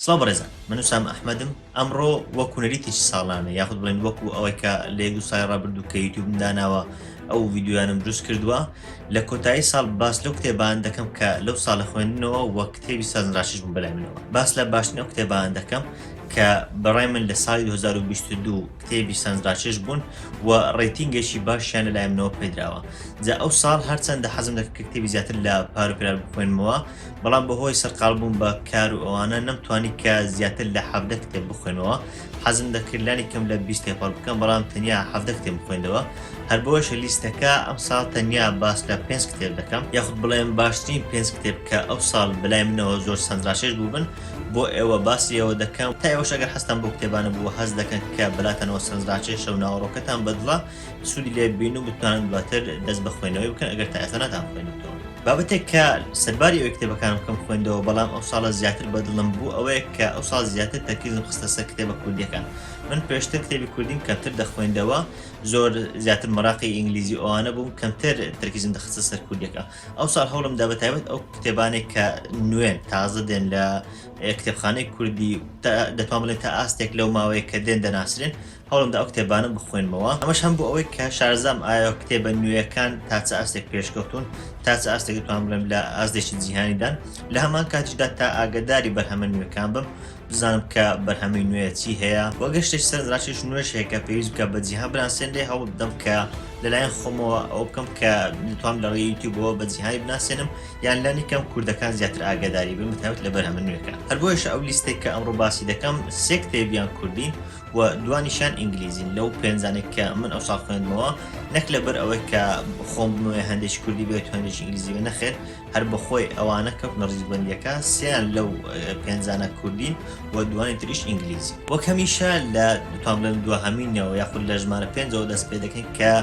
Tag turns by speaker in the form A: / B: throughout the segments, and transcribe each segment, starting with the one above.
A: سڵاو بەڕێزان من وسام ئەحمەدم ئەمڕۆ وەک کوونەریتی چ ساڵانە یاخود بڵێن وەکو ئەوەی کە لە دو سای ڕابردوو کە یوتوب داناوە ئەو ویددیویانم دروست کردووە لە کۆتایی ساڵ باس لەو کتێبان دەکەم کە لەو ساڵە خوێندنەوە وە کتێبی سازراشش بوو بەلای منەوە باس لە باشتنەوە کتێبان دەکەم کە بەڕای من لە ساڵی 2022 کتێبی سەنزراچێژ بوون و ڕێتینگەشی باشیان لە لایەنەوە پێدراوە جا ئەو ساڵ هەرچەندە حەزم لە کتێبی زیاتر لە پاروپرار بخوێنمەوە بەڵام بەهۆی سەرقال بوون بە کار و ئەوانە نەمتوانی کە زیاتر لە حەفدە کتێب بخوێنەوە حەزم دەکردلانی کەم لە بیست تێپەڕ بکەم بەڵام تەنیا حەفدە کتێب بخوێندەوە هەر بۆشە لیستەکە ئەم ساڵ تەنیا باس لە پێنج کتێب دەکەم یاخود بڵێم باشترین پێنج کتێب کە ئەو ساڵ بلای منەوە زۆر سەنجاشێش بووبن بۆ ئێوە باسی ئەوە دەکەم تا ئێوەش ئەگەر حەزتان بۆ کتێبانە بووە هەست دەکەن کە بەلاتانەوە سەرنجڕاکێشە و ناوەڕۆکەتان بەدڵە سوودی لێ ببین و بتوانن دواتر دەست بە خوێندنەوەی بکەن ئەگەر تا ئێستا ناتان خوێندووە بابەتێک کە سەرباری ئەوەی کتێبەکانم کەم خوێندەوە بەڵام ئەو ساڵە زیاتر بەدڵم بوو ئەوەیە کە ئەو ساڵ زیاتر تەرکیزم خستە سەر کتێبە کوردیەکان من پێشتر کتێبی کوردیم کەمتر دەخوێندەوە زۆر زیاتر مەراقی ئینگلیزی ئەوانە بووم کەمتر تەرکیزم دەخستە سەر کوردیەکە ئەوساڵ هەوڵم دا بەتایبەت ئەو کتێبانێک کە نوێن تازە دێن لە کتێبخانەی کوردی دەتوان بڵێن تا ئاستێک لەو ماوەیە کە دێن دەناسرێن هەوڵم دا ئەو کتێبانە بخوێنمەوە ئەمەش هەم بۆ ئەوەی کە شارزام ئایا کتێبە نوێیەکان تاچە ئاستێک پێشکەوتون تاچە ئاستێک دەتوان بڵێم لە ئازدێکی جیهانیدان لە هەمان کاتیشدا تا ئاگداری بەرهەمە نوێکان بم بزانم کە بەرهەمی نوێ چی هەیە وە گەشتێک سەرنجڕاکێش نوێش هەیە کە پێویست بکە بە جیهان بناسێنرێ هەوڵ بدەم کە لەلایەن خۆمەوە ئەو بکەم کە نتوام لە ڕێی یوتیوبەوە بە جیهانی بناسێنم یان لانی کەم کوردەکان زیاتر ئاگاداری بن بەتایبەت لە بەرهەمە نوێکە هەر بۆیەش ئەو لیستێک کە ئەمڕۆ باسی دەکەم سێ کتێبیان کوردین و دوانیشان ئینگلیزین لەو پێنجانێک کە من ئەو ساڵ خوێندمەوە نەک لەبەر ئەوەی کە خۆم بمەوێ هەندێکی کوردی بێت و هەندێکی ئینگلیزی بێ نەخێر هەر بەخۆی ئەوانە کەوتنە ڕیزبەندیەکە سیان لەو پێنجانە کوردین و دوانی تریش ئینگلیزی وەک هەمیشە لە دوتان بڵێن دوهەمینەوە یاخود لە ژمارە پێنجەوە دەست پێ دەکەین کە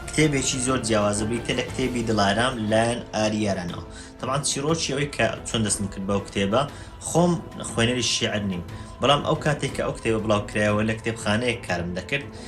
A: کتێبێکی زۆر جیاوازە بریتە لە کتێبی دڵارام لایەن ئاری یارانەوە تەبان چیرۆکی ئەوەی کە چۆن دەستم کرد بەو کتێبە خۆم خوێنەری شیعر نیم بەڵام ئەو کاتێک کە ئەو کتێبە بڵاوکرایەوە لە کتێبخانەیەک کارم دەکرد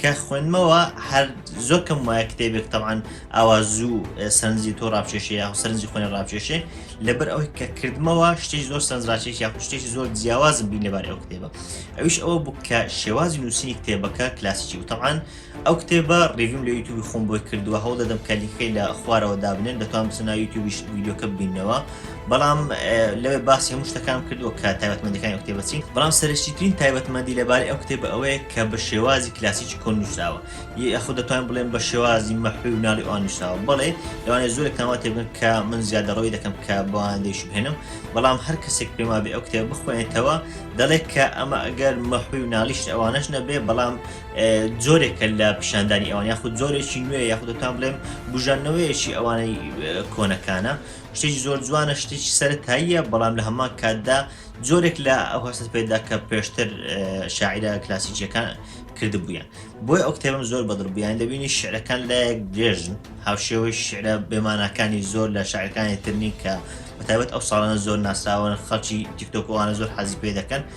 A: کە خوێنمەوە هەر زۆر کەم وایە کتێبێک تەوان ئاوا زوو سەرنجی تۆ ڕاپچێشی یا سەرنجی خوێن ڕاپچێشێ لەبەر ئەوی کە کردمەوە شتێک زۆر سەرنجڕاچێک یا شتێکی زۆر جیاوازم بین لەبار ئەو کتێبە ئەوش ئەوە بوو کە شێوازی نووسینی کتێبەکە کلاسیکی و تەوان ئەو کتێبە ڕێویم لە یوتوبی خۆم بۆی کردووە هەوڵ دەدەم کە لیکەی لە خوارەوە دابنێن دەتوان بسنا یوتوبیش ویددیوکە بینەوە بەڵام لەوێ باسی هەموو شتەکان کردووە کە تایبەتمەندەکانی ئەو کتێبە چین بەڵام سەرشتیترین تایبەتمەندی لەبارەی ئەو کتێبە ئەوەیە کە بە شێوازی کلاسیکی کۆن نووسراوە یاخود دەتوان بڵێن بە شێوازی مەحوی و ناڵی ئەوان نووسراوە بڵێ لەوانێ زۆر کاوا تێبن کە من زیادە ڕۆی دەکەم کە بەوان دەیشبهێنم بەڵام هەر کەسێک پێما بێ ئەو کتێب بخوێنێتەوە دەڵێت کە ئەمە ئەگەر مەحوی و ناڵیشت ئەوانەش نەبێ بەڵام جۆرێکە لە پیشاندانی ئەوان یاخود زۆرێکی نوێ یاخود دەتان بڵێم بژانەوەیەکی ئەوانەی کۆنەکانە شتێکی زۆر جوانە شتێکی سەرتاییە بەڵام لە هەمان کاتدا جۆرێک لە ئەو هەست پێدا کە پێشتر شاعرە کلاسیکیەکان کردبوویان بۆی ئەو کتێبم زۆر بەدڵبیان دەبینی شعرەکان لایەک درێژن هاوشێوەی شعرە بێمانەکانی زۆر لە شارەکانی ترنی کە بەتابەت ئەو ساڵانە زۆر ناسراوە خەڵکی تیکتۆکۆوانە زۆر حەزی پێ دەکەن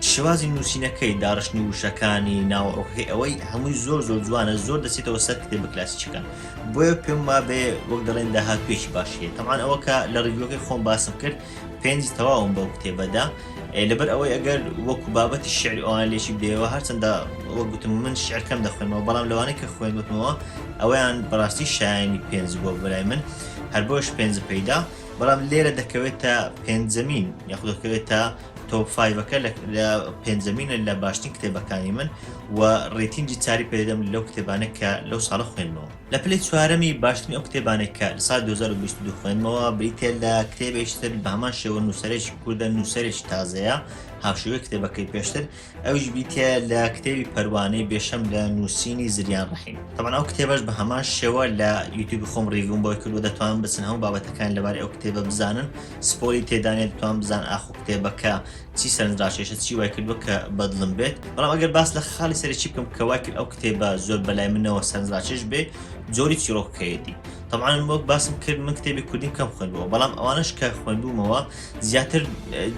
A: شێوازی نووسینەکەی، داڕشتنی وشەکانی، ناوەڕۆکەکەی ئەوەی هەمووی زۆر زۆر جوانە زۆر دەچێتەوە سەر کتێبە کلاسیکیەکان بۆیە پێم وابێ وەک دەڵێن داهاتوویەکی باشی هەیە تەبعان ئەوە کە لە ڕیڤیوەکەی خۆم باسم کرد پێنج تەواوم بەو کتێبەدا ئێ، لەبەر ئەوەی ئەگەر وەکو بابەتی شعری ئەوان لێکی بدەیەوە هەرچەندە وەک گوتم من شعر کەم دەخوێنمەوە بەڵام لەوانەیە کە خوێندوتمەوە ئەوەیان بەڕاستی شایانی پێنج بووە بۆ لای من هەر بۆیەش پێنجم پێی دا بەڵام لێرە دەکەوێتە پێنجەمین یاخود دەکەوێتە تۆپ فایڤەکە لە پێنجەمینە لە باشترین کتێبەکانی من و ڕێتینجی چاری پێدەم لەو کتێبانە کە لەو ساڵە خوێنمەوە لە پلی چوارەمی باشترین ئەو کتێبانێک کە لە سال 2022 خوێنمەوە بریتێ لە کتێبێشتر بە هەمان شێوە نووسەرێکی کوردە نووسەرێکی تازەیە هاوشێوەی کتێبەکەی پێشتر ئەویش بیتە لە کتێبی پەروانەی بێشەم لە نووسینی زریان ڕحیم تەمان ئەو کتێبەش بە هەمان شێوە لە یوتیوبی خۆم ڕیگوم بۆی کردو دەتوان بچن هەموو بابەتەکان لەبارەی ئەو کتێبە بزانن سپۆری تێدانێت دەتوان بزان ئاخۆ کتێبەکە چی سەرنجڕاکێشە چی وای کردووە کە بەدڵم بێت بەڵام ئەگەر باس لە خاڵی سەرەکی بکەم کە وای کرد ئەو کتێبە زۆر بەلای منەوە سەرنجڕاکێش بێ جۆری چیرۆکەیەتی طبعاان وەک باسم کرد من کتێبی کوردیم کەم خوێندەوە بەڵام ئەوانش کە خوێندومەوە زیاتر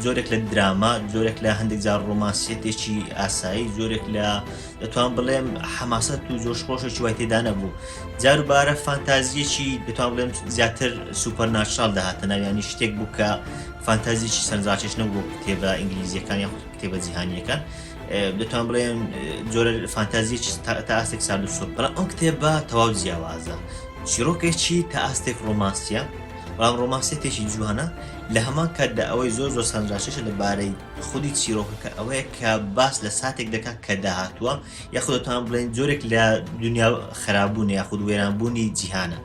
A: جۆرێک لە دراما جۆرێک لە هەندێک جار ڕۆمانسیەتێکی ئاسایی جۆرێک لە دەتوان بڵێم حەماسەت و زۆر خۆشێکی وای تێدا نەبوو جاروبارە فانتازیەکی دەتوان بڵێم زیاتر سوپەر ناشال داهاتە ناویانی شتێک بوو کە فانتازیکی سەرزاچش نەبوو کتێبە ئینگلیزیەکان یان کتێبە جیهانیەکان دەتوان بڵێن جۆرە فانتازیەک تا ئاستێک سال و سوپڕ ئەم کتێبە تەواو جیاوازە چیرۆکێکی تا ئاستێک ڕۆمانسیە بەڵام ڕۆمانسێتێکی جوانە لە هەمان کاتدا ئەوەی زۆر زۆر سەرنجڕاکێشە لە بارەی خودی چیرۆکەکە ئەوەیە کە باس لە ساتێک دەکات کە داهاتووە یاخود دەتوان بڵێن جۆرێک لە دنیا خراببوون یاخود وێرانبوونی جیهانە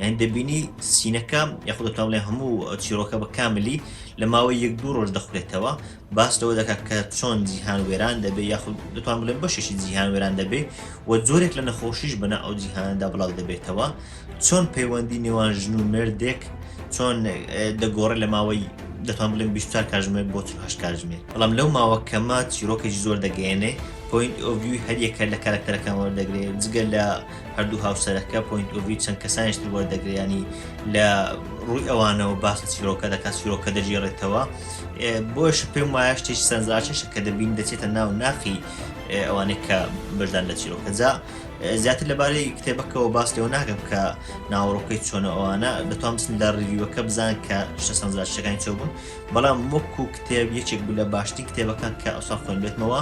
A: یان دەبینی سینەکە یاخود دەتوان بڵێن هەموو چیرۆکە بە کاملی لە ماوەی یەک دوو ڕۆژ دەخورێتەوە باس لەوە دەکات کە چۆن جیهان وێران دەبێت یاخود دەتوان بڵێن بەشێکی جیهان وێران دەبێت و جۆرێک لە نەخۆشیش بەنا ئەو جیهاندا بڵاو دەبێتەوە چۆن پەیوەندی نێوان ژن و مردێک چۆن دەگۆڕێت لە ماوەی دەتوان بڵێن 24 کاژمێر بۆ هەش کاژمێر بەڵام لەو ماوە کەمە چیرۆکێک زۆر دەگەێنێ پوین ئۆڤوی هەریەکە لە کارکتەرەکان وەردەگرێت جگە لە هەردوو هاوسەرەکە پوین ئۆڤی چەند کەسانیشتر وەردەگریانی لە ڕووی ئەوانەوە باسی چیرۆکە دەکات چیرۆکە دەژێڕێتەوە بۆش پێم وایە شتێک سەنجاشش کە دەبین دەچێتە ناو ناخی ئەوانێک کە بەشدان لە چیرۆکەجا زیاتر لەبارەی کتێبەکەەوە باس لەوە ناکەم کە ناوەڕۆکەی چۆنە ئەوانە دەتوان بسن لە ڕیوەکە بزان کە شتە سەنجاشەکانی چۆ بوون بەڵام وەک و کتێب یەکێک بوو لە باشتین کتێبەکان کە ئەوسا خوێن بێتمەوە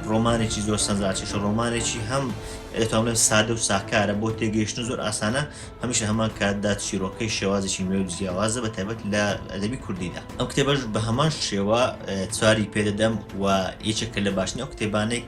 A: ڕۆمانێکی زۆر سەنجاشەش ڕۆمانێکی هەم دەتوانێت سادە و ساکارە بۆ تێگەیشتن زۆر ئاسانە هەمیشە هەمان کاتدا چیرۆکەی شێوازێکی نوێ و جیاوازە بە تایبەت لە ئەدەبی کوردیدا ئەم کتێبەش بە هەمان شێوە چواری پێدەدەم و یەکێکە لە باشنە کتێبانێک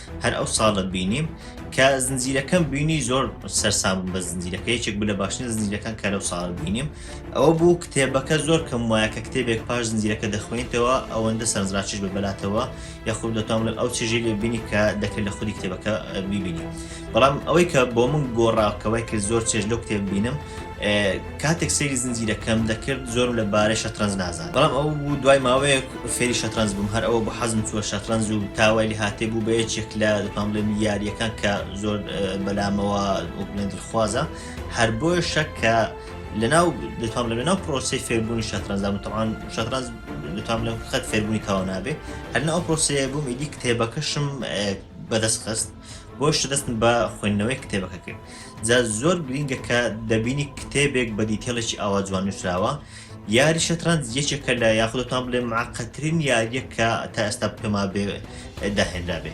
A: هەر ئەو ساڵە بینیم کە زنجیرەکەم بینی زۆر سەرسام بە زنجیرەکە یەکێک بلە باشترین زنجیرەکان کە لەو ساڵ بینیم ئەوە بوو کتێبەکە زۆر کەم وایە کە کتێبێک پاش زنجیرەکە دەخوێنیتەوە ئەوەندە سەرنجڕاکیش بە بەلاتەوە یاخود دەتوان لە ئەو چێژی لێ بینی کە دەکرێت لە خودی کتێبەکە بیبینی بەڵام ئەوەی کە بۆ من گۆڕاکەوەی کرد زۆر چێژ لەو کتێب بینم کاتێک سەیری زنجیرەکەم دەکرد زۆرم لە بارەی شەترەنج نازان بەڵام ئەو بوو دوای ماوەیەک فێری شەترەنج بووم هەر ئەوە بۆ حەزم چووە شەترەنج و تاوای لە هاتێ بوو بە یەکێک لە دەتوان بڵێ یاریەکان کە زۆر بەلامەوە بڵێن دڵخوازە هەر بۆیە شەک کە لەناو دەتوان لە ناو پرۆسی فێربوونی شەترەنجام تەوان شەترەنج دەتوان لەم خەت فێربوونی تاوا نابێ هەرنا ئەو پرۆسەیە بووم ئیدی کتێبەکەشم بەدەست خست بۆیشە دەستم بە خوێندنەوەی کتێبەکە کرد جا زۆر گرینگە کە دەبینی کتێبێک بە دیتێڵێکی ئاوا جوان نووسراوە یاری شەترەنج یەکێکە لە یاخودتان بڵێ معقەترین یاریە کە تا ئێستا پێما بێ داهێنرا بێ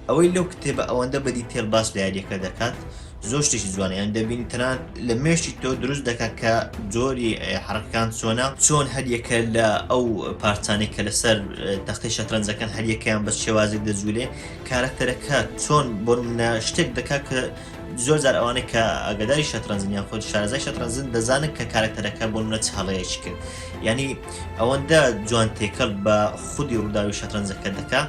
A: ئەوەی لەو کتێبە ئەوەندە بە دیتێل باس لە یاریەکە دەکات زۆر شتێکی جوانیان دەبینی تەنان لە مێشتی تۆ دروست دەکات کە جۆری حرکان چۆنە چۆن هەریەکە لە ئەو پارچانێک کە لەسەر تەختی شەترەنجەکان هەریەکەیان بە شێوازێک دەجوولێ کارەکتەرەکە چۆن بۆ منە شتێک دەکات کە زۆر جار ئەوانە کە ئەگەدای شەترەنجن یان خۆی شارەزای شەترەنجن دەزانن کە کارەکتەرەکە بۆ منە چ هەڵەیەکی کرد ینی ئەوەندە جوان تێکەڵ بە خودی ڕووداوی شەترەنجەکە دەکا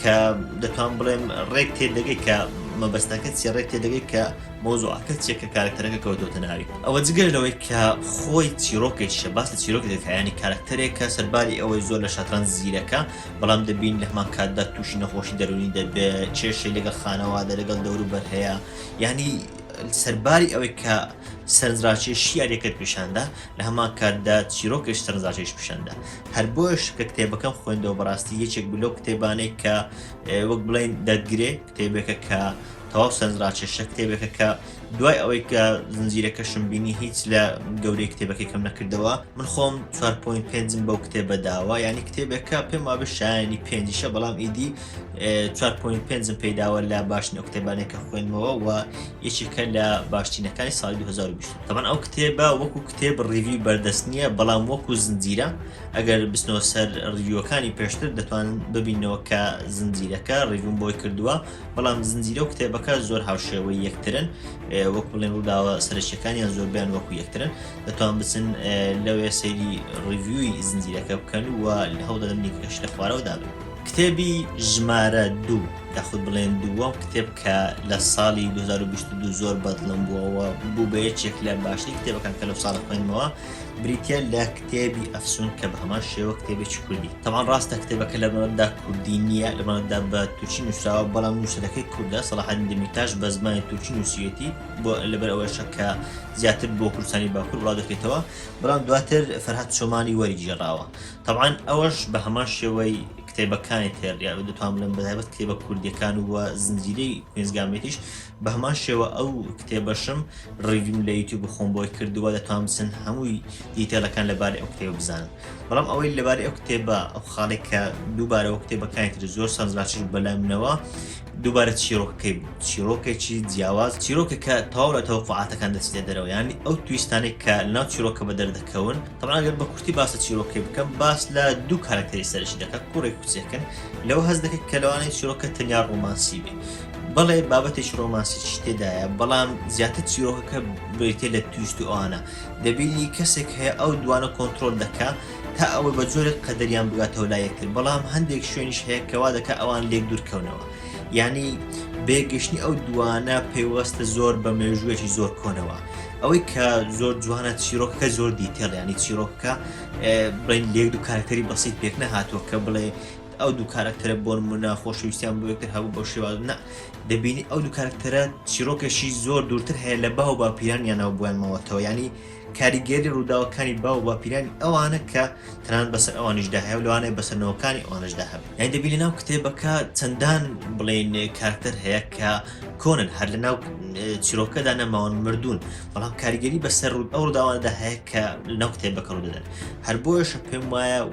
A: کە دەتوان بڵێم ڕێک تێدەگەی کە مەبەستەکە چی ڕێک تێدەگەی کە مۆزوعەکە چیە کە کارکتەرەکە کەوتۆتە ناوی ئەوە جگەر لەوەی کە خۆی چیرۆکێکیشە باس لە چیرۆکێکەکەیانی کارکتەرێکە سەرباری ئەوەی زۆر لە شەترەنج زیرەکە بەڵام دەبین لە هەمان کاتدا تووشی نەخۆشی دەروونی دەبێ کێشەی لەگەڵ خانەوادە لەگەڵ دەوروبەر هەیە یعنی سەرباری ئەوەی کە سەرنجڕاکێ شیارەکەت پیشاندا لە هەمان کاتدا چیرۆکش سەرنجڕاکێش پیشاندا هەر بۆش کە کتێبەکەم خوێندەوە بەڕاستی یەکێک بلۆ کتێبانێک کە وەک بڵین دەتگرێ کتێبێکە کە تەواو سەرنجڕاکێشە، کتێبێکە کە دوای ئەوەی کە زنجیرەکەشم بینی هیچ لە گەورەی کتێبەکەی کەم نەکردەوە، من خۆم 4.5م بەو کتێبە داوە، یانی کتێبێکە پێم وابێ شایانی پێنجیشە، بەڵام ئیدی 4.5م پێی داوە لە باشترین ئەو کتێبانەی کە خوێندمەوە و یەکێکە لە باشترینەکانی ساڵی 2020. تەبەن ئەو کتێبە وەکوو کتێب ڕیڤیوی بەردەست نییە، بەڵام وەکوو زنجیرە، ئەگەر بچنەوە سەر ڕیڤیوەکانی پێشتر دەتوانن ببیننەوە کە زنجیرەکە ڕیڤوم بۆی کردووە بەڵام زنجیرە و کتێبەکە زۆر هاوشێوەی یەکترن وەک بڵێن ڕووداوە سەرەکیەکانیان زۆربیان وەکو یەکترن دەتوان بچن لەوێ سەیری ڕیڤوی زنجیرەکە بکەن و لە هەوڵدەدەم لینکەکەش لە خوارەوە دابن کتێبی ژمارە دوو یاخود بڵێن دووەم کتێب کە لە ساڵی 2022 زۆر بەدڵم بووەوە بوو بە یەکێک لە باشترین کتێبەکان کە لەو ساڵە خوێنمەوە بریتە لە کتێبی ئەفسوون کە بە هەمان شێوە کتێبێکی کوردی تەوان ڕاستە کتێبەکە لە بەمەدا کوردی نییە لە بەمەدا بە تورکی نووسراوە بەڵام نووسەرەکەی کوردە سەڵحان دمیتاش بە زمانی تورکی نووسیەتی بۆ لەبەر ئەوەشە کە زیاتر بۆ کوردستانی باکوور بڵاو دەکرێتەوە بەڵام دواتر فەرهاد چۆمانی وەری گێڕاوە تەوان ئەوەش بە هەمان شێوەی کتێبەکانی تێڕیا دەتوان بڵێن بەتایبەت کتێبە کوردیەکان و زنجیرەی کوێنزگامێتیش بەهەمان شێوە ئەو کتێبەشم ڕیڤیم لە یوتیوب خۆم بۆی کردووە دەتوان بچن هەمووی دیتێلەکان لەبارەی ئەو کتێبە بزانن بەڵام ئەوەی لەبارەی ئەو کتێبە ئەو خاڵی کە دووبارەوە کتێبەکانی تر زۆر سەرزاشر بەلای منەوە دووبارە چیرۆکەکەی بوو چیرۆکێکی جیاواز چیرۆکە کە تاو لە تەوقعاتەکان دەچێ دەرەوە ینی ئەو تویستانێک کە ناو چیرۆکە بە دەردەکەون تەماگەر بە کورتی باسە چیرۆکەی بکەم باس لە دوو کارکتەری سەرشی دەکات کوڕێک کوچێکن لەوە هەز دەکەێت کە لەوانەیە چیرۆکە تەنیا ڕۆمانسی بێ بەڵێ بابەتێکی ڕۆمانسیی تێدایە، بەڵام زیاتر چیرۆکەکە بریتییە لە تویست و ئەوانە. دەبینی کەسێک هەیە ئەو دووانە کۆنترۆل دەکا تا ئەوەی بە جۆرێک قەدەریان بگاتەوە لای یەکتر، بەڵام هەندێک شوێنیش هەیە کە وا دەکا ئەوان لێک دوور کەونەوە. یانی بەیەک گەیشتنی ئەو دووانە پەیوەستە زۆر بە مێژوویەکی زۆر کۆنەوە. ئەوەی کە زۆر جوانە چیرۆکەکە زۆر دیتێڵە یانی چیرۆکەکە بڵێین لە یەک دوو کارەکتەری بەسیت پێک نەهاتووە کە بڵێ، ئەو دوو کارەکتەرە بۆ نمونە خۆشەویستیان بۆ یەکتر هەبوو بەو شێوازە نا دەبینی ئەو دوو کارەکتەرە چیرۆکێکی زۆر دوورتر هەیە لە باو باپیرانیانەوە بۆیان ماوەتەوە ینی کاریگەری ڕووداوەکانی باو باپیرانی ئەوانە کە تەنان بەسەر ئەوانیشدا هەیە و لەوانەیە بەسەرنەوەکانی ئەوانشدا هەبێت یان دەبینی ناو کتێبەکە چەندان بڵێن کارکتەر هەیە کە کۆنن هەر لە ناو چیرۆکەدا نەماون مردوون بەڵام کاریگەری بەسەر ڕوود ئەو ڕداواندا هەیە کە لەناو کتێبەکە ڕدەدەن هەر بۆیشە پێم وایە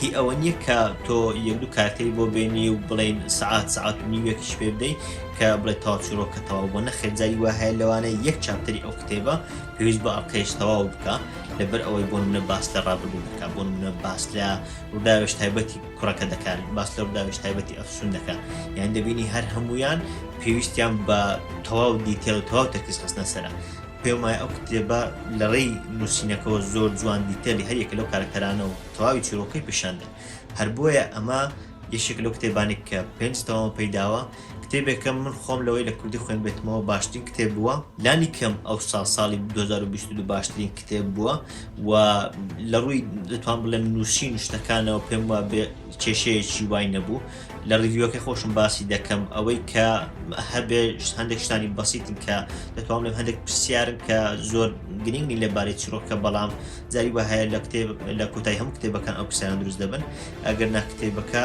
A: هی ئەوە نیە کە تۆ یەک دوو کارکتەری بۆ بێنی و بڵێین سەعات سەعات و نیوێکیش پێ بدەی کە بڵێ تەواو چیڕۆکە تەواو بوە نەخێر جاری وا هەیە لەوانە یەک چاپتەری ئەو کتێبە پێویست بە ئەڵقەیەش تەواو بکا لەبەر ئەوەی بۆ منە باس لە ڕابردوو دەکا بۆ منە باس لە ڕووداوێش تایبەتی کوڕەکە دەکات باس لە ڕووداوێش تایبەتی ئەفسون دەکا یان دەبینی هەر هەمویان پێویستیان بە تەواو دیتێل و تەواو تەرکیز خستنە سەرە پێم وایە ئەو کتێبە لە ڕێی نووسینەکەەوە زۆر جوان دیتەلی هەریەکە لەو کارکتەرانەوە تەواوی چیرۆکەی پیشاندەن هەر بۆیە ئەمە یەکێک لەو کتێبانی کە پێنج تەواو پەیداوە کتێبێکە من خۆم لەوەی لە کوردی خوێن بێتمەوە باشترین کتێب بووە لانی کەم ئەو ساڵ ساڵی 2022 باشترین کتێب بووە و لە ڕووی دەتوان بڵێم نووسین شتەکانەوە پێم وا بێ کێشەیەکی وای نەبوو لە ڕیویەکەی خۆشم باسی دەکەم ئەوەی کە هەبێ هەندێک شتانی بەسیتن کە دەتوانم هەندێک پرسیارن کە زۆر گرنگی لەبارەی چرۆکە بەڵام جاری وهەیە لە کتێب لە کۆتای هەموو کتێبەکان ئەو پرسیان دروست دەبن ئەگەر ناکتێبەکە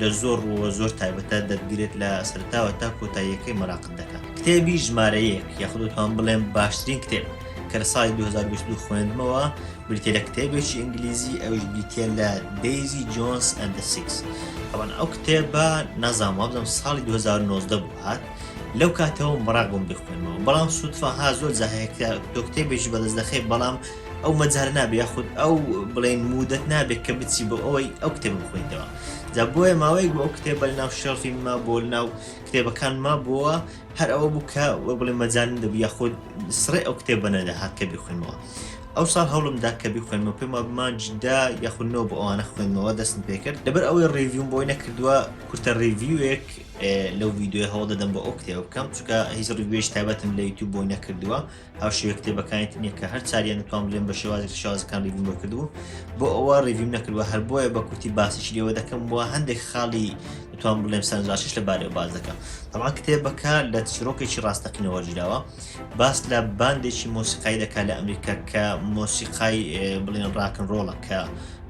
A: لە زۆر ڕووە زۆر تایبەتە دەتگرێت لە سەرتاوە تا کۆتاییەکەی مەراقت دەکات کتێبی ژمارەیەک یاخودتان بڵێن باشترین کتێب کە لە سای 2022 خوێندمەوە بریتە لە کتێبێکی ئینگلیزی ئەوش بریتە لە دەیزی جۆنس ئەند سیکس ئەوان ئەو کتێبە نازان وابزم ساڵی 2009 بوو هاات لەو کاتەوە مەراق بم بخوێنەوە بەڵام سوودفاها زۆر زاهەیە کە دۆکتێبێکی بەدەست دەخێ بەڵام ئەو مەجال نابێ یاخود ئەو بڵێن مودەت نابێت کە بچی بۆ ئەوەی ئەو کتێب بخۆیتەوە جا بۆیە ماوەیەک بۆ ئەو کتێبە لە ناو شەڵفی ما بۆ ناو کتێبەکان ما بووە هەر ئەوە بوو کە وە بڵێ مەجان دەبوو یاخود سڕێ ئەو کتێبە نەدەهات کە بخوێنەوە ئەو ساڵ هەوڵمدا کە بخوێنمە پێم وابمانجدا یاخودنەوە بۆ ئەوانە خوێنمەوە دەستم پێکرد لەبەر ئەوەی ڕێڤیوم بۆی نەکردووە کورتە ڕێڤیوێک لەو ویددیوی هەوڵ دەدەم بۆ ئەو کتێبە بکەم چکە هیچ ڕێوێش تابەتم لە یوتوب بۆی نەکردووە ئەو شێوە کتێبەکانی تر نییە کە هەر چاریان دەتوان بلێن بە شێوازێک شازەکان ریڤیم بۆ کردبوو بۆ ئەوە ریڤیم نەکردوە هەر بۆیە بە کورتی باسیش لێوە دەکەم بۆ هەندێک خاڵی دەتوان بڵێم سەرنجاشیش لە بارەوە باز دەکەم تەڵا کتێبەکە لە چیرۆکێکی ڕاستەقینەوە جراوە باس لە باندێکی مۆسیقای دەکات لە ئەمریکا کە مۆسیقای بڵێن ڕاکن ڕۆڵە کە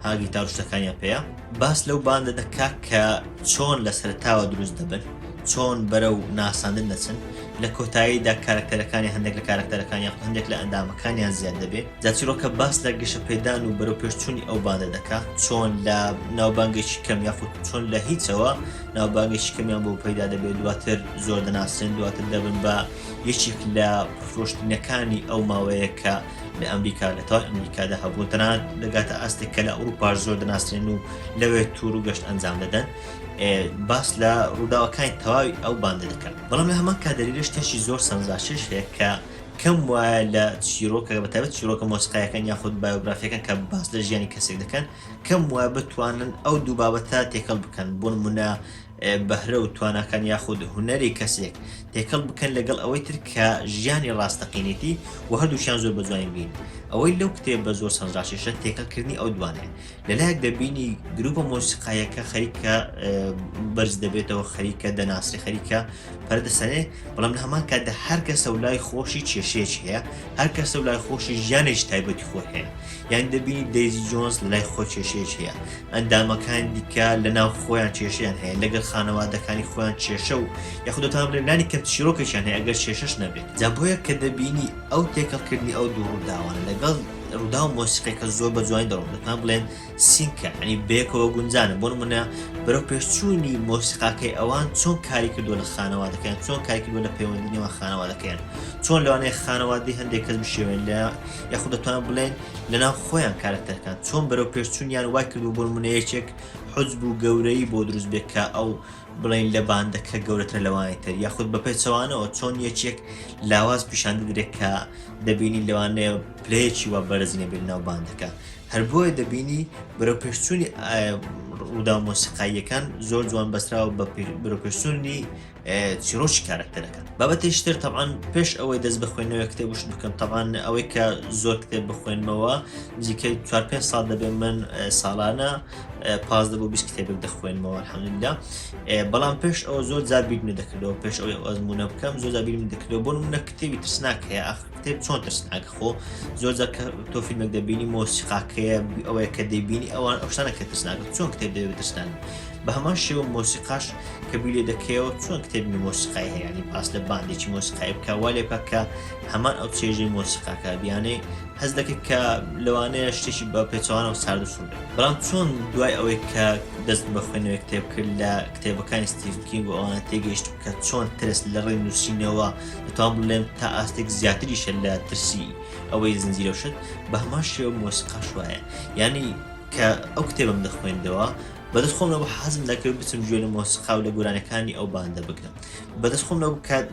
A: ها گیتار و شتەکانیان پێیە باس لەو باندە دەکا کە چۆن لە سەرتاوە دروست دەبن چۆن بەرە و ناساندن دەچن لە کۆتاییدا کارکتەرەکانی هەندێک لە کارکتەرەکانی هەندێک لە ئەندامەکانیان زیاد دەبێت جاچیرۆکە باس لە گەشە پێدان و بەرەو پێشچوونی ئەو باندە دەکا چۆن لە ناوبانگێکی کەم یاخود چۆن لە هیچەوە ناوبانگێکی کەمیان بۆ پەیدا دەبێت دواتر زۆر دەناسرێن دواتر دەبن بە یەکێک لە فرۆشتنەکانی ئەو ماوەیە کە لە ئەمریکا لە تەوای ئەمریکادا هەبوون تەنانەت دەگاتە ئاستێک کە لە ئەوروپاش زۆر دەناسرێن و لەوێ تور و گەشت ئەنجام دەدەن باس لە ڕووداوەکانی تەواوی ئەو باندە دەکەن بەڵام لە هەمان کادەریرە شتێکی زۆر سەنجاشش هەیە کە کەم وایە لە چیرۆکە بەتابەت چیرۆکە مۆسیقایەکان یاخود بایۆگرافیەکان کە باس لە ژیانی کەسێک دەکەن کەم وایە بتوانن ئەو دوو بابەتە تێکەڵ بکەن بۆن منە بەهرە و تواناکان یاخود هونەری کەسێک تێکەڵ بکەن لەگەڵ ئەوەی تر کە ژیانی ڕاستەقینێتی و هەردووشیان زۆر بە جوانی بین ئەوەی لەو کتێب بە زۆر سەنجاشێشە تێکەڵکردنی ئەو دوانێ لەلایەک دەبینی گروپە مۆسیقایەکە خەریکە بەرز دەبێتەوە خەریکە دەناسی خەریکە پەردەسەنێ بەڵام لە هەمان کاتدا هەر کەسە و لای خۆشی کێشەیەکی هەیە هەر کەسە و لای خۆشی ژیانێکی تایبەتی خۆ هەیە یانی دەبینی دەیزی جۆنز لای خۆ کێشەیەک هەیە ئەندامەکان دیکە لە ناو خۆیان کێشیان هەیە لەگەر خانەوادەکانی خۆیان کێشە و یاخودتان لەلانی کەم چیرۆکەکیان هەیە ئەگەر کێشەش نەبێت جا بۆیە کە دەبینی ئەو تێکەڵکردنی ئەو دوو ڕووداوانە لەگەڵ ڕوودا و مۆسیقێکە زۆر بە جوانی دەڕۆن دەتان بڵێن سینکە ئەنی بێکەوە گونجانە بۆن منە بەرەو پێشچوونی مۆسیقاکەی ئەوان چۆن کاری کردو لە خانەوادەکەیان چۆن کاری کردو لە پەیوەندی نێوان خانەوادەکەیان چۆن لەوانەیە خانەوادی هەندێک کەس بشێوێن لە یاخود دەتوان بڵێن لەناو خۆیان کارەکتەرەکان چۆن بەرەو پێشچوونیان وای کردو بۆ نمونە یەکێک حجب و گەورەی بۆ دروست بێت کە ئەو بڵین لە باندەکە گەورەتر لەوانی تر یاخود بە پێچەوانەوە چۆن یەکێک لاواز پیشان بدرێت کە دەبینی لەوانەیە پلەیەکی وا بەرزینە بێت ناو باندەکە هەر بۆیە دەبینی بەرەو پێشچوونی ڕوودا مۆسیقاییەکان زۆر جوان بەسراوە بە بەرەو پێشچوونی چیرۆکی کارەکتەرەکە بابەتێکی تر تەوان پێش ئەوەی دەست بخوێنەوە کتێ وشت بکەم تەوان ئەوەی کە زۆر کتێب بخوێنمەوە نزیکەی چوار پێ ساڵ دەبێت من ساڵانە پاس دەبۆ بیست کتێبێک دەخوێنمەوە حەمدا بەڵام پێش ئەوە زۆر جار بیرمە دەکردەوە پێش ئەوەی ئەزمونە بکەم زۆر جار بیرم دەکردەوە بۆ منە کتێبی ترسناک هەیە ئاخر کتێب چۆن ترسناک خۆ زۆر جار کە تۆ فیلمێک دەبینی مۆسیقاکەیە ئەوەیە کە دەبینی ئەوان ئەوشتانە کە ترسناکە چۆن کتێب دەبێت ترسناک بە هەمان شێوە مۆسیقاش کە گوێ لێ دەکەیەوە چۆن کتێبی مۆسیقای هەیە ینی باس لە باندێکی مۆسیقای بکە وا لێ بکە کە هەمان ئەو چێژەی مۆسیقاکە بیانەی هەز دەکرد کە لەوانەیە شتێکی بە پێچوانە و سارد و سوور بێت بەڵام چۆن دوای ئەوەی کە دەست بە خوێنەوەی کتێب کرد لە کتێبەکانی ستیڤ کینگ و ئەوانە تێگەیشت کە چۆن ترس لە ڕێی نووسینەوە دەتوان بڵێم تا ئاستێک زیاتریشە لە ترسی ئەوەی زنجیرە شت بە هەمان شێوە مۆسیقاش وایە ینی کە ئەو کتێبم دەخوێندەوە بەدەست خۆم نەبوو حەزم دەکرد بچم گوێ لە مۆسیقا و لە گۆرانیەکانی ئەو باندە بگرم بەدەست خۆم نەبوو کات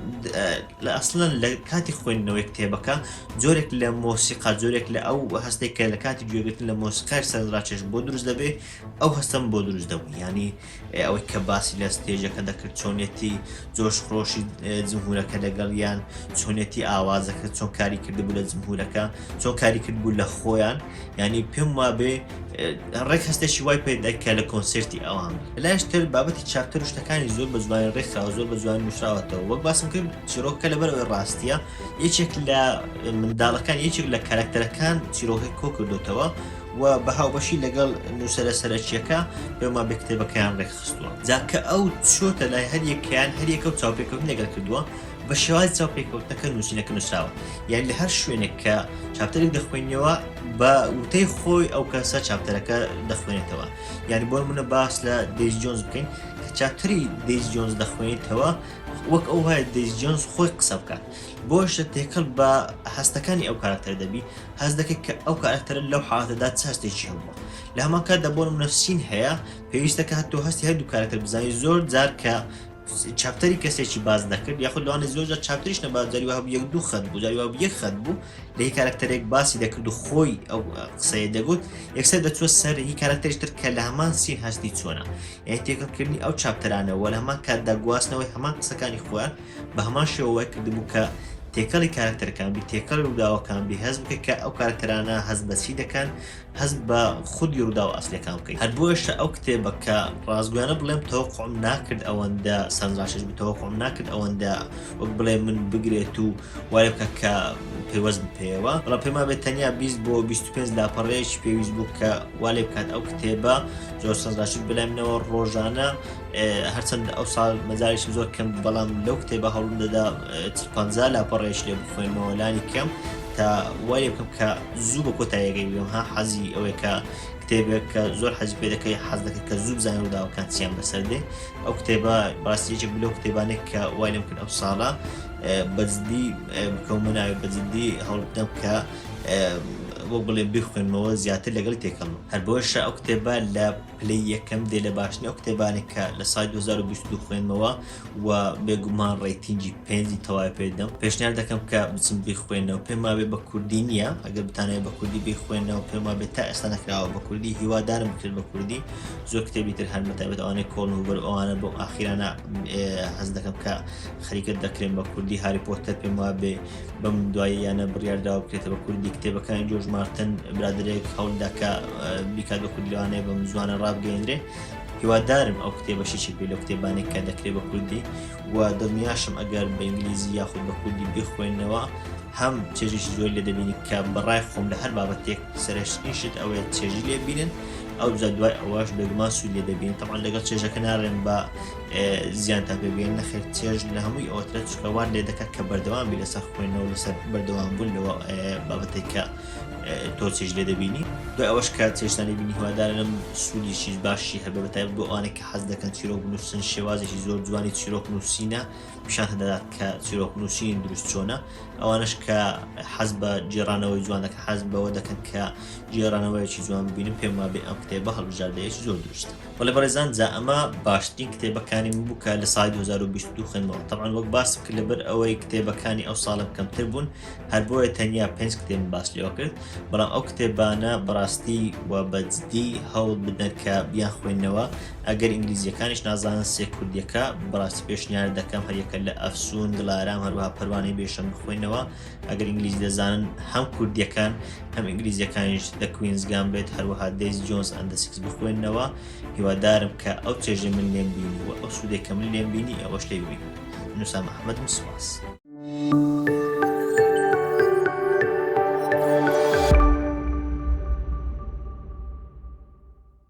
A: لە ئەسڵەن لە کاتی خوێندنەوەی کتێبەکە جۆرێک لە مۆسیقا جۆرێک لە ئەو هەستێک کە لە کاتی گوێگرتن لە مۆسیقای سەرڕاکێش بۆ دروست دەبێ ئەو هەستم بۆ دروست دەبوو ینی ئەوەی کە باسی لە ستێژەکە دەکرد چۆنیەتی جۆش خۆشی جمهورەکە لەگەڵ یان چۆنیەتی ئاوازەکە چۆن کاری کردبوو لە جمهورەکە چۆن کاری کرد بوو لە خۆیان یعنی پێم وابێ ڕێک هەستێکی وای پێدەکە لە کۆنسرتی ئەوان لاشتر بابەتی چاپتر شتەکانی زۆر بە زوانی ڕێکخراوە زۆر بە زوان نووسراوەتەوە وەک باسم کرد چیرۆکە لەبەر ئەوی ڕاستیە یەکێک لە منداڵەکان یەکێک لە کارکتەرەکان چیرۆکەی کۆ کردوتەوە و بە هاوبەشی لەگەڵ نووسرە سەرەکیەکە بێما بە کتێبەکەیان ڕێکخستووە جاکە ئەو چۆتە لای هەریەکیان هەریەکە و چاوپێکەوتن لەگەر کردووە بە شێوازی چاوپێکەوتنەکە نووسینەکە نووسراوە یان لە هەر شوێنێک کە چاپتەرێک دەخوێنیەوە بە وتەی خۆی ئەو کەسە چاپتەرەکە دەخوێنێتەوە یعنی بۆ منە باس لە دەیز جۆنز بکەین کە چاپتری دەیز جۆنز دەخوێنیتەوە وەک ئەو هەیە دەیز جۆنز خۆی قسە بکات بۆشە تێکەڵ بە هەستەکانی ئەو کارکتەر دەبی هەز دەکەیت کە ئەو کارکتەر لەو حالاتەدا چ هەستێکی هەبووە لە هەمان کاتدا بۆ منەفسین هەیە پێویستەکە هەتۆ هەستی هەردوو کارکتەر بزانانی زۆر جار کە چاپتەری کەسێکی باس دەکرد یاخود لەوانە زۆرجار چاپتریش نەباس جاری وهبوو یەک دوو خەت بوو جاری واب یەک خەت بوو لە هی کارکتەرێک باسی دەکرد و خۆی ئەو قسەیە دەگوت یەکسەر دەچوە سەر هی کارکتەرش تر کە لە هەمان سین هەستی چۆنە یعنی تێکەڵکردنی ئەو چاپتەرانە وە لە هەمان کاتدا گواستنەوەی هەمان قسەکانی خۆیان بە هەمان شێوەوەی کردبوو کە تێکەڵی کارکتەرەکان بی تێکەڵی ڕووداوەکان بی هەست بکە کە ئەو کارکتەرانە هەست بەچی دەکەن هەست بە خودی ڕووداوە ئەسلەکان بکەیت هەر بۆیەشە ئەو کتێبە کە ڕاستگویانە بڵێم تەوەقعم ناکرد ئەوەندە سەرنجڕاکێش بوو تەوەقعم ناکرد ئەوەندە وەک بڵێ من بگرێت و وای بکە کە پەیوەست بم پێیەوە بەڵام پێما بێت تەنیا 20 بۆ 25 لاپەڕەیەکی پێویست بوو کە وا لێ بکات ئەو کتێبە زۆر سەرنجڕاکێش بەلای منەوە ڕۆژانە هەرچەندە ئەو ساڵ مەجالیشم زۆر کەم بوو بەڵام لەو کتێبە هەوڵم دەدا چ 50 لاپەڕەیەش لێ بخوێنمەوە لانی کەم تا وای لێ بکەم کە زوو بە کۆتایی گەی بێم ها حەزی ئەوەی کە کتێبێک کە زۆر حەز پێ دەکەی حەز دەکەی کە زوو بزانانی ڕووداوەکان چیان بەسەر دێ ئەو کتێبە ڕاستیەکی بلو کتێبانێک کە وای لەم کرد ئەم ساڵە بەجددی بکەومە ناوێ بەجددی هەوڵدەم کە بۆ بڵێ بخوێنمەوە زیاتر لەگەڵ تێکەڵ هەر بۆشە ئەو کتێبە لە پلەی یەکەم دێ لە باشترین ئەو کتێبانەی کە لە سای 2022 خوێنمەوە و بێگومان ڕێتینگی پێنجی تەواوی پێ دەم پێشنیار دەکەم کە بچم بیخوێنەوە پێما بێ بە کوردی نییە ئەگەر بتانەوە بە کوردی بیخوێنەوە پێما بێت تا ئێستا نەکراوە بە کوردی هیوادارم بکرێت بە کوردی زۆر کتێبی تر هەن بەتابێت ئەوانەی کۆڵ و بەر ئەوانە بۆ ئاخیرانە هەز دەکەم کە خەریکت دەکرێن بە کوردی هاری پۆتەر پێما بێ بەم دواییانە بڕیارداوە بکرێتە بە کوردی کتێبەکانی جۆژ مارتن برادێک هەوڵداکە بیکات بە کورد لەوانەیە بەم زوانە ڕابگەێنرێ هیوادارم ئەو کتێبەشی چی پێ لە کتێبانێک کە دەکرێت بە کوردی و دڵنیاشم ئەگەر بە ئینگلیزی یاخود بە کوردی بخوێنەوە هەم چێژیش زۆر لە دەبینی کە بەڕای خۆم لە هەر بابەتێک سەرشتنی شت ئەوەیە چێژی لێبینن ئەو جا دوای ئەوەش بێگومان سوود لێ دەبین تەمان لەگەڵ چێژەکە ناڕێن بە زیانتان پێ بگەین نەخێر چێژ لە هەمووی ئەوترە چکە وار لێ دەکات کە بەردەوام بی لەسەر خوێنەوە لەسەر بەردەوام بوون لەوە بابەتێک کە تۆ چێژ لێ دەبینی دوای ئەوەش کە چێشتانی بینی هوادارم سوودیشی باشی هەبێ بەتای بۆ ئەوانە کە حەز دەکەن چیرۆک نووسن شێوازێکی زۆر جوانی چیرۆک نووسینە پیشان هەدەدات کە چیرۆک نووسین دروست چۆنە ئەوانش کە حەز بە جێرانەوەی جوان دەکە حەز بەوە دەکەن کە جێرانەوەیکی جوان ببینم پێم وابێ ئەم کتێبە هەڵبژاردەیەکی زۆر دروستە وەلێ بەڕێزان جا ئەمە باشترین کتێبەکانی من بوو کە لە سای 2022 خوێنمەوە تەبان وەک باسم کرد لەبەر ئەوەی کتێبەکانی ئەو ساڵم کەمتر بوون هەر بۆیە تەنیا پێنج کتێب باس لێوە کرد بەڵام ئەو کتێبانە بەڕاستی و بەجددی هەوڵ بدەن کە بیان خوێندنەوە ئەگەر ئینگلیزیەکانیش نازانن سێ کوردیەکە بەڕاستی پێشنیار دەکەم هەریەکە لە ئەفسون دڵارام هەروها پەروانەی بێشەم بخوێنەوە ئەگەر ئینگلیزی دەزانن هەم کوردیەکان هەم ئینگلیزیەکانیش لە کوینزگان بێت هەروەها دەیز جۆنز ئەندسیکس بخوێنەوە هیوادارم کە ئەو چێژە من لێم بینی و ئەو سوودێکە من لێم بینی ئەوەش لێ ببین نووسام ئەحمەدم سوپاس.